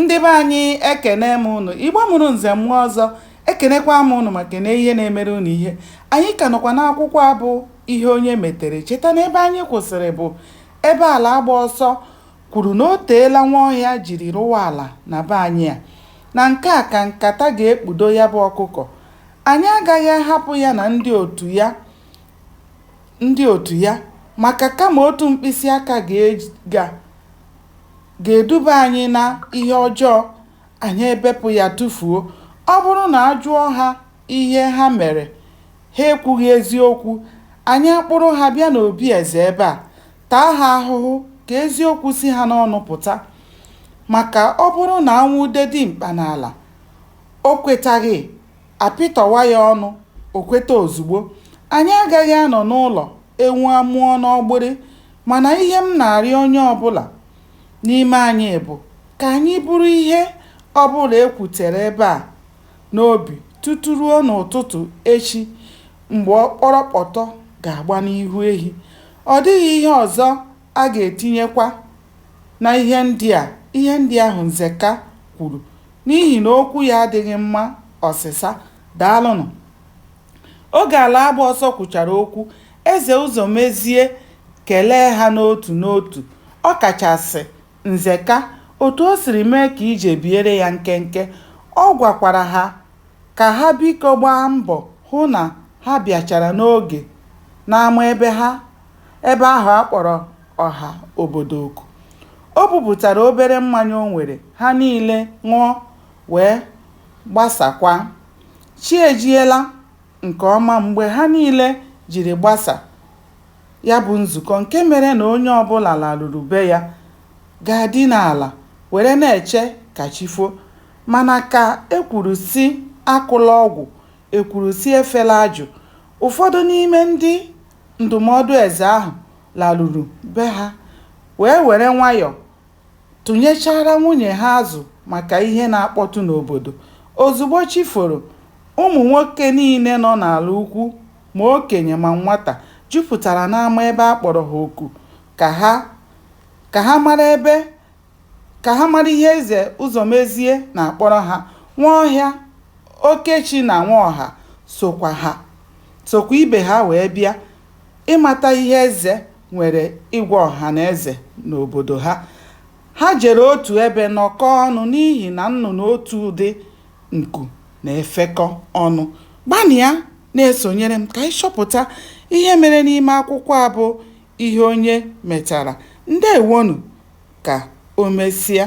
Ndị be anyị ekene m ụnụ, Igbo mụrụ nze mụọ ọzọ, ekenekwa m ụnụ ma kene ihe na-emere ụnụ ihe. Anyị ka nọkwa n'akwụkwọ a bụ ihe onye metere. Cheta na ebe anyị kwụsịrị bụ ebe Alagbaọsọ kwuru na o teela Nwaọhịa jiri rụwa ala na be anyị a. Na nke a ka nkata ga-ekpudo ya bụ ọkụkọ. Anyị agaghị ahapụ ya na ndị otu ya maka kama otu mkpịsị aka ga-eji ga ga-eduba anyị na ihe ọjọọ, anyị ebepụ ya tufuo. Ọ bụrụ na a jụọ ha ihe ha mere, ha ekwughị eziokwu, anyị akpụrụ ha bịa n'obi eze ebe a, taa ha ahụhụ ka eziokwu si ha n'ọnụ pụta. Maka ọ bụrụ na a nwụde dimkpa n'ala, o kwetaghị, a pịtọwa ya ọnụ, o kweta ozugbo. Anyị agaghị anọ n'ụlọ ewu amụọ n'ọgbịrị. Mana ihe m na-arịọ onye ọbụla n'ime anyị bụ ka anyị buru ihe ọbụla e kwutere ebe a n'obi tutu ruo n'ụtụtụ echi mgbe ọkpọrọkpọtọ ga-agba n'ihu ehi. Ọ dịghị ihe ọzọ a ga-etinyekwa na ihe ndị a, ihe ndị ahụ Nzeka kwuru n'ihi na okwu ya adịghị mma ọsịsa. Daalụnụ. Oge Alagbaọsọ kwuchara okwu, Eze Ụzọmezie kelee ha n'otu n'otu, ọ kachasị Nzeka otu o siri mee ka ije biere ya nkenke. Ọ gwakwara ha ka ha biko gbaa mbọ hụ na ha bịachara n'oge n'ama ebe ha ebe ahụ a kpọrọ ọha obodo oku. O bupụtara obere mmanya o nwere, ha niile ṅụọ wee gbasakwa. Chi ejiela nke ọma mgbe ha niile jiri gbasa ya bụ nzukọ nke mere na onye ọbụla laruru be ya gaa dina ala were na-eche ka chi fo. Mana ka e kwuru sị akụla ọgwụ, e kwuru sị efela ajụ, ụfọdụ n'ime ndị ndụmọdụ eze ahụ laruru be ha wee were nwayọ tụnyechaara nwunye ha azụ maka ihe na-akpọtụ n'obodo. Ozugbo chi foro, ụmụ nwoke niile nọ n'ala ukwu, ma okenye ma nwata, jupụtara n'ama ebe a kpọrọ ha oku ka ha ka ha mara ebe ka ha mara ihe Eze Ụzọmezie na-akpọrọ ha. Nwaọhịa, Okechi na Nwaọha sokwa ha sokwa ibe ha wee bịa ịmata ihe Eze nwere ịgwa ọha na eze n'obodo ha. Ha jere otu ebe nọkọọ ọnụ n'ihi na nnụnụ otu ụdị nku na-efekọ ọnụ. Gbanịa na-esonyere m ka anyị chọpụta ihe mere n'ime akwụkwọ a bụ Ihe Onye Metara. Ndewonụ! Ka o mesịa.